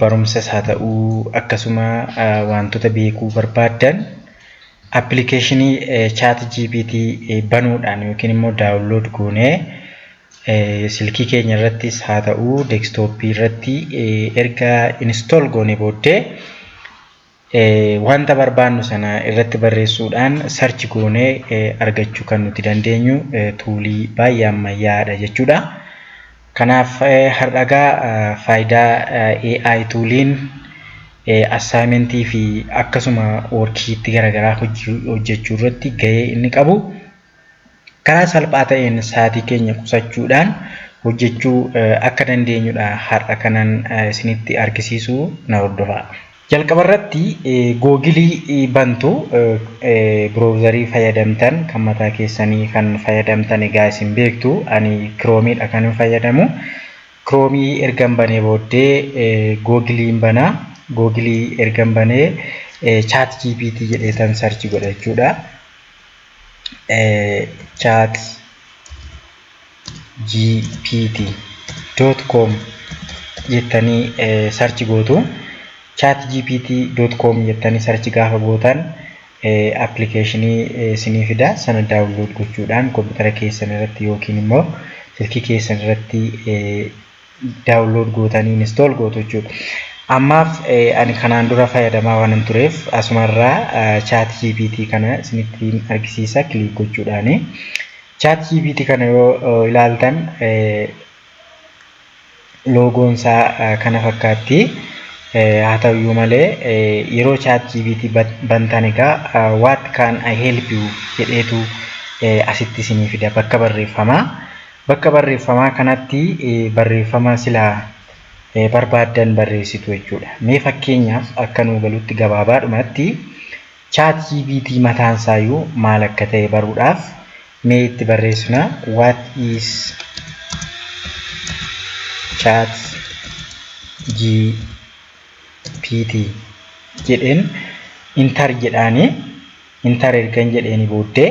barumsas haa ta'u akkasuma waantota beekuu barbaaddan appilikeeshinii chaat GPT banuudhaan yookiin immoo daawunlood goonee silkii keenya irrattis haa ta'u deeskitooppii irratti erga inistool goone booddee Wanta barbaannu sana irratti barreessuudhaan search goonee argachuu kan nuti dandeenyu tuulii baay'ee ammayyaa'aadha jechuudha. Kanaaf har'agaa faayidaa AI tuuliin assaayimentii fi akkasuma workiishiitti garaagaraa hojjechuu irratti gahee inni qabu karaa salphaa ta'een sa'aatii keenya qusachuudhaan hojjechuu akka dandeenyudha har'a kanan isinitti argisiisu na hordofaa. Jalqaba irratti googilii bantu biroowuzarii fayyadamtan kan mataa keessanii kan fayyadamtan egaa isin beektu ani kiroomiidha kan hin fayyadamu. Kiroomii ergan banee booddee googiliin bana googilii ergan banee chaat GPT jedheetan sarchi godha jechuudha. chat gpt dot com jettanii sarchi gootu chat gpt dot com jettanii sarchi gaafa gootan appilikeeshinii isinii fida sana daawunlood gochuudhaan kompiitara keessan irratti yookiin immoo silkii keessan irratti download gootanii install gootu jechuudha. Ammaaf ani kanaan dura fayyadamaa waan hin tureef asumarraa chat GPT kana isinitti argisiisa kiliik gochuudhaani. Chat GPT kana yoo ilaaltan loogoon isaa kana fakkaatti. Haa ta'uyyuu malee yeroo chat GPT bantan egaa what can I help you jedheetu asitti isinii fida bakka barreeffamaa. Bakka barreeffamaa kanatti barreeffama sila barbaaddan barreessitu jechuudha. Mee fakkeenyaaf akka nuu galutti gabaabaadhumatti ChatGPT mataan isaayyuu maal akka ta'e baruudhaaf mee itti barreessina what is ChatGPT jedheen intar jedhaani intar ergan jedheeni booddee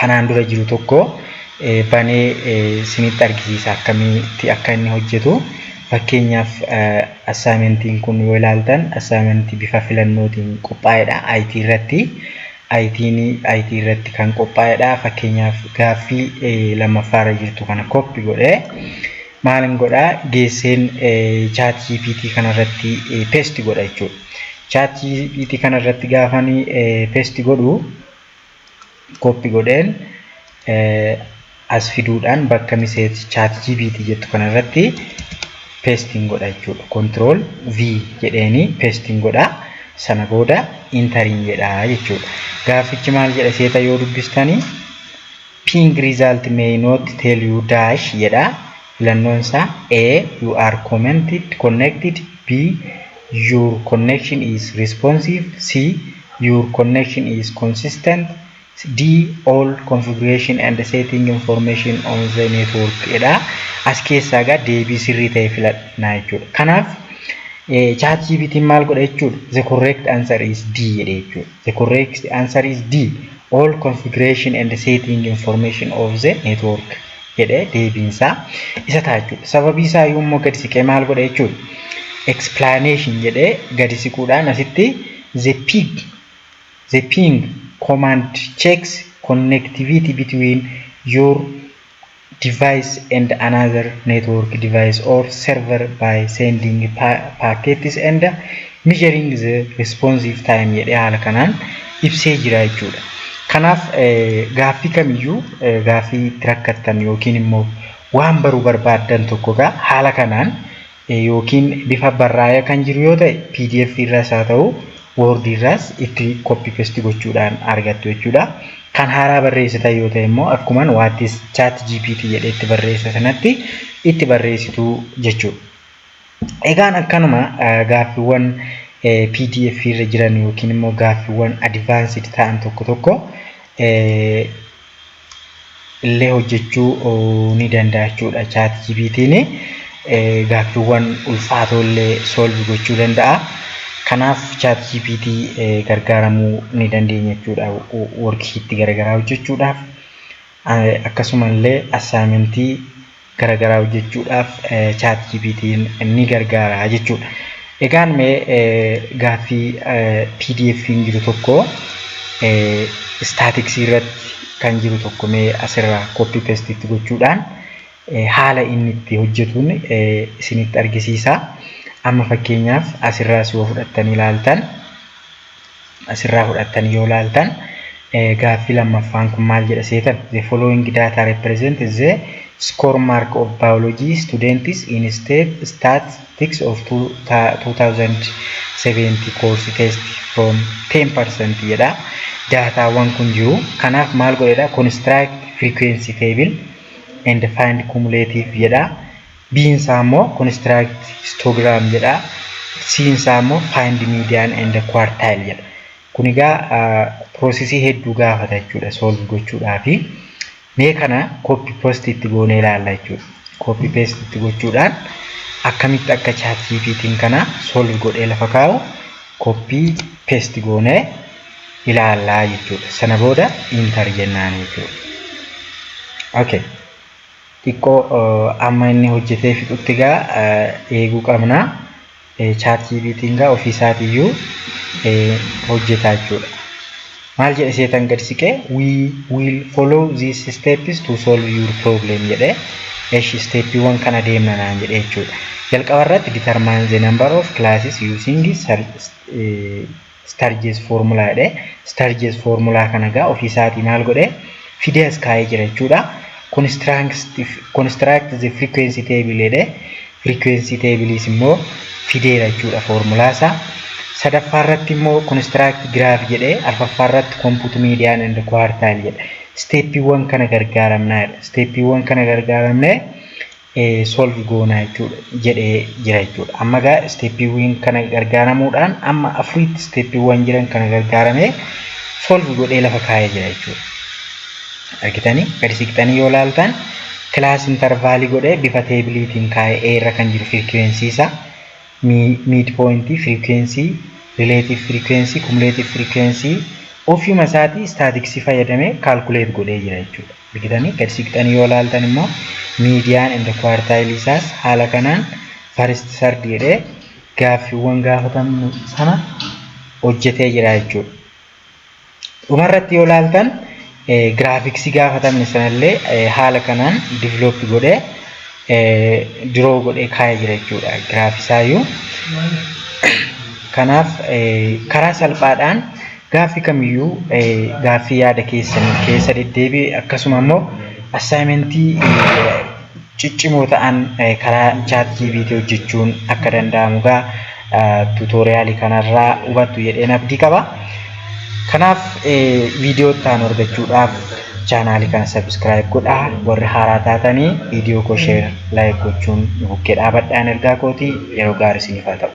kanaan dura jiru tokko banee isinitti argisiisa akkamitti akka inni hojjetu. Fakkeenyaaf assaayimentiin kun yoo ilaaltan assaayimentii bifa filannootiin qophaa'edha IT irratti. IT'n IT irratti kan qophaa'edha. Fakkeenyaaf gaaffii lammaffaarra jirtu kana koppi godhee maalin godha geesseen chaat GPT kanarratti pesti godha jechuudha. Chaat GPT kanarratti gaafanii pesti godhu koppi godheen as fiduudhaan bakka miseet chaat jibiiti jettu kanarratti peestiin godha jechuudha. Kontirool V jedheeni peestiin godha sana booda intariin jedha jechuudha. Gaaffichi maal jedha seeta yoo dubbistani ping result may not tell you dash jedha. Filannoon isaa A. You are commented, connected B. Your connection is responsive C. Your connection is consistent D. All configuration and setting information on the network dha. As keessaa egaa deebii sirrii ta'e filadhaa jechuudha. Kanaaf chat GPT'n maal godha jechuudha? The correct answer is D jedhe jechuudha. The correct answer is D. All configuration and setting information of the network jedhe deebiin isaa isa ta'a jechuudha. Sababii isaa yoo immoo gadi siqee maal godha jechuudha. Explanation jedhee gadi siquudhaan asitti the pig the ping command checks connectivity between your device and another network device or server by sending packets and measuring the responsive time jedhee haala kanaan ibsee jira jechuudha. Kanaaf gaaffii kamiyyuu gaaffii itti rakkattan yookiin immoo waan baruu barbaaddan tokko egaa haala kanaan yookiin bifa barraa'ee kan jiru yoo ta'e pdf irraas haa ta'u word irraas itti copy paste gochuudhaan argattu jechuudha. Kan haaraa barreessitan yoo ta'e immoo akkuman waattis chat GPT jedhee itti barreessa sanatti itti barreessitu jechuudha. Egaan akkanuma gaaffiiwwan pdf irra jiran yookiin immoo gaaffiiwwan advanced ta'an tokko tokko illee hojjechuu ni danda'a jechuudha. Chaat GPT'n gaaffiiwwan ulfaatoo illee solve gochuu danda'a. Kanaaf chaat GPT gargaaramuu ni dandeenya jechuudha. Worksheet garaagaraa hojjechuudhaaf akkasuma illee assaayimentii garagaraa hojjechuudhaaf chaat GPT'n ni gargaara jechuudha. Egaan mee gaaffii PDF'n jiru tokko istaatiksii irratti kan jiru tokko mee asirraa koppii pestitti gochuudhaan haala inni itti hojjetuun isinitti argisiisa. Amma fakkeenyaaf asirraas yoo fudhattanii ilaaltan asirraa fudhattan yoo laaltan gaaffii lammaffaan kun maal jedha seetan the following data represent the score mark of biology students in state statistics of 2070 course test from 10% jedha daataawwan kun jiru kanaaf maal godhedha construct frequency table and find cumulative jedha B'n isaa immoo construct histogram jedha. C'n isaa immoo find median and quartile jedha. Kun egaa piroosesii hedduu gaafata jechuudha solve gochuudhaafi. Mee kana copy post itti goonee ilaalla jechuudha. Copy paste itti gochuudhaan akkamitti akka chat GPT'n kana solve godhee lafa kaa'u copy paste goonee ilaallaa jechuudha. Sana booda enter jennaan jechuudha. Okay. Xiqqoo amma inni hojjetee fixutti gaa eeguu qabna. Chaat GPT'n gaa ofii isaatiiyyuu hojjetaa jechuudha. Maal jedhe seetan gad siqee we will follow these steps to solve your problem jedhe. Esh steeppiiwwan kana deemna naan jedhe jechuudha. Jalqaba irratti determine the number of classes using Starges formula jedhe. Starges formula kana egaa ofii isaatii maal godhe fidee as kaa'ee jira jechuudha. Construct the frequency table jedhe. Frequency tables immoo fideera jechuudha formula isaa. Sadaffaa irratti immoo construct graph jedhe. Arfaffaa irratti compute median and quartile jedhe. Steppiiwwan kana gargaaramnaa jedha. Steppiiwwan kana gargaaramnee solve goona jechuudha jedhee jira jechuudha. Amma egaa isteeppiiwwan kana gargaaramuudhaan amma afuriitti isteeppiiwwan jiran kana gargaaramee solve godhee lafa kaa'ee jira jechuudha. Argitanii gadi siqxanii yoo laaltan kilaas intarvaalii godhee bifa teebiliitiin kaa'ee A irra kan jiru firikiweensii isaa miid pooyintii firikiweensii rileetiif firikiweensii kumuleetiif firikiweensii ofiima isaatii istaatiksii fayyadamee kaalkuleet godhee jira jechuudha. argitanii gad siqxanii yoo laaltan immoo miidiyaan and kuwaartaayilii isaas haala kanaan faristi sardi jedhee gaaffiiwwan gaafatamu sana hojjetee jira jechuudha. Dhumarratti yoo laaltan giraafiksii gaafatamne sanallee haala kanaan diviloopi godhee diroo godhee kaa'ee jira jechuudha giraafisaayyuu. Kanaaf karaa salphaadhaan gaaffi kamiyyuu gaaffii yaada keessanii keessa deddeebi'e akkasuma immoo assaayimentii ciccimoo ta'an karaa chaat jiibiitii hojjechuun akka danda'amu gaa tuutooriyaalii kanarraa hubattu jedheen abdii qaba. Kanaaf viidiyoo itti aanu argachuudhaaf chaanaalii kana sabiskiraayib godhaa warri haaraa taatanii viidiyoo koo sheer laayik gochuun nu bukkee dhaabadhaan ergaa kootii yeroo gaarii isiniif haa ta'u.